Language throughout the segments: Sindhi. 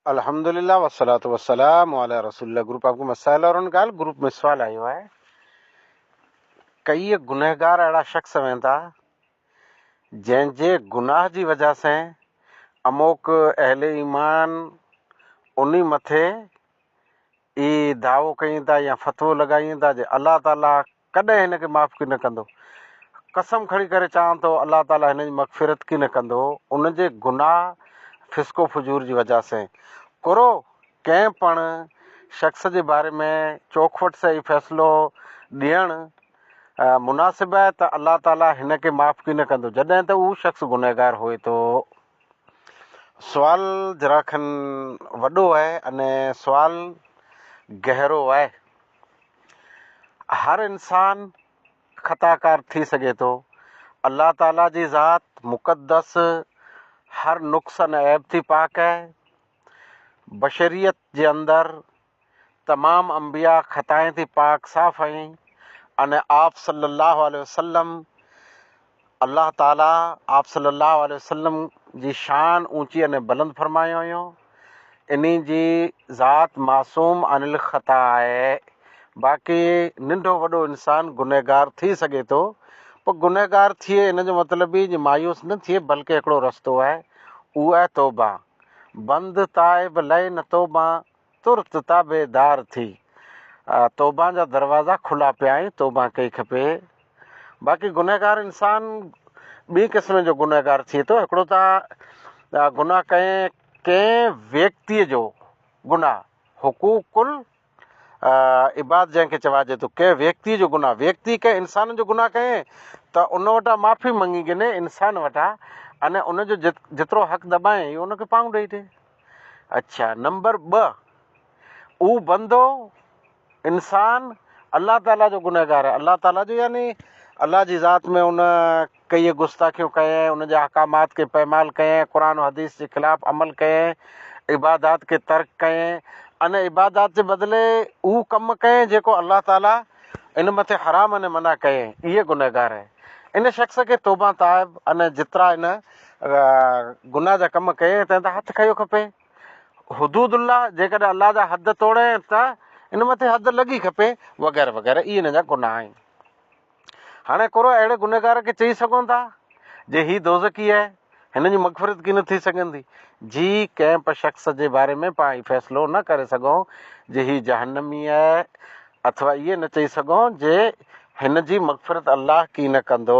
الحمد لله والصلوة والسلام علی رسول الله گروپ آپ ڪو مسائل اور ان ڳالھ گروپ ۾ سوال آيو آهي ڪيئي گنهگار اهڙا شخص ويندا جنهن جي گناھ جي وجه سين اموڪ اهل ايمان انهي مٿي اهي دعوو ڪين ٿا يا فتوو لڳائين ٿا جي الله تعاليٰ ڪڏهن هن کي معاف ڪين ڪندو. قسم کڻي ڪري چوان ٿو الله تعاليٰ هن جي مغفرت ڪين ڪندو ان جي گناهه فسق و فجور جي وجه سين. ڪرو ڪنهن پڻ شخص جي باري ۾ چوکوٽ سهي فيصلو ڏيڻ مناسب آهي ته الله تعاليٰ هن کي معاف ڪين ڪندو جڏهن ته اهو شخص گنهگار هئي ٿو. سوال ذرا کن وڏو آهي ان سوال گهرو آهي. هر انسان خطاڪار ٿي سگهي ٿو. الله تعالي جي ذات مقدس هر نقص ۽ عيب ٿي پاڪ آهي. بشريت جي اندر تمام انبياء خطائين ٿي پاڪ صاف ۽ ان آپ صلّي اللّٰه عليه وسلّم الله تعالٰي آپ صلّي اللّٰه عليه وسلّم جي شان اوچي ان بلند فرمايو هيو انهي جي ذات معصوم عن الخطاء آهي باقي ننڍو وڏو انسان گنهگار ٿي سگهي ٿو پر گنهگار ٿئي ان جو مطلب هي جو مايوس نه ٿئي بلڪه هڪڙو رستو آهي اهو آهي توبه بند تائب لئي نه توبه ترت تابعدار ٿي توبه جا دروازا کلا پيا ۽ توبه ڪئي کپي باقي گنهگار انسان ٻئي قسم جو گنهگار ٿئي ٿو هڪڙو ته گناهه ڪنهن ڪنهن ويڪتيء جو گناهه حقوق العباد جنهن کي چوائجي ٿو ڪنهن ويڪتيء جو گناهه ويڪتي ڪنهن انسان جو گناهه ڪئين ته ان وٽان معافي مڱي گني انسان وٽان ان ان جو جيترو حق دٻائين اهو ان کي پاڻ ڏئي ڏي اڇا نمبر ٻه اھو بندو انسان الله تعاليٰ جو گنهگار آهي الله تعاليٰ جو يعني الله جي ذات ۾ ان ڪيئي گستاخيون ڪيئي ان جي احڪامات کي پيمال ڪيئي قرآن و حديث جي خلاف عمل ڪيئي عبادات کي ترڪ ڪيئي ان عبادات جي بدلي اھو ڪم ڪيئي جيڪو الله تعاليٰ ان مٿي حرام ان منع ڪيئي اھي گنهگار آهي ان شخص کي توبه تائب ان جترا ان گناھ جا ڪم ڪيئين تنهن تان هٿ کنيو کپي. حدود الله جيڪڏهن الله جا حد توڙين ته ان مٿي حد لڳي کپي وغيره وغيره اهي ان جا گناھ آهن. هاڻي ڪورو اهڙي گنهگار کي چئي سگهون ٿا جي هي دوزخي آهي هن جي مغفرت ڪين ٿي سگهندي جي ڪنهن به شخص جي باري ۾ پاڻ هي فيصلو نه ڪري سگهون جي هي جهنمي آهي اٿوا اهي نه چئي سگهون جي هن جي مغفرت الله ڪين ڪندو.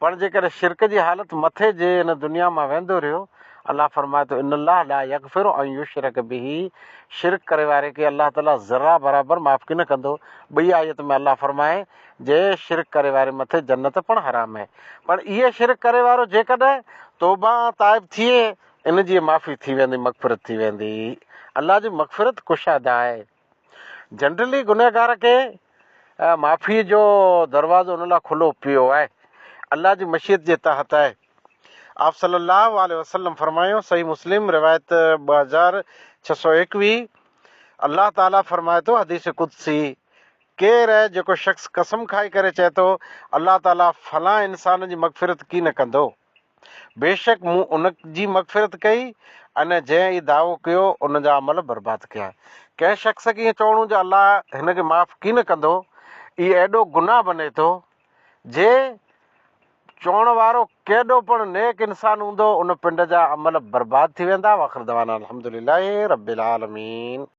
پڻ جيڪڏهن شرڪ جي حالت مٿي جي هن دنيا مان ويندو رهيو، الله فرمائي ٿو، ان الله لا يغفر ان يشرڪ به، شرڪ ڪري واري کي الله تعالي ذرا برابر معاف ڪي نه ڪندو. ٻئي آيت ۾ الله فرمائي، جي شرڪ ڪري واري مٿي جنت پڻ حرام آهي. پڻ اهي شرڪ ڪري وارو جيڪڏهن توبه ۽ تائب ٿئي، ان جي معافي ٿي ويندي، مغفرت ٿي ويندي. الله جي مغفرت ڪشاده آهي. جنرلي گنهگار کي معافيء جو دروازو ان لاء کلو پيو آهي، الله جي مشيت جي تحت آهي. آپص صلّي اللّٰه عليه وسلّم فرمايو، صحيح مسلم، روايت ٻه هزار ڇهه سؤ ايڪويهه، الله تعاليٰ فرمائي ٿو، حديث قدسي، ڪير آهي جيڪو شخص قسم کائي ڪري چئي ٿو، الله تعاليٰ فلان انسان جي مغفرت ڪين ڪندو؟ بيشڪ مون ان جي مغفرت ڪئي ۽ جنهن هي دعوو ڪيو ان جا عمل برباد ڪيا. ڪنهن شخص کي ائين چوڻو جو الله هن کي معاف ڪين ڪندو اهي ايڏو گناهه بني ٿو جي چوڻ وارو ڪيڏو پڻ نيڪ انسان هوندو ان پنڊ جا عمل برباد ٿي ويندا واخر دعوانا الحمدلله رب العالمين.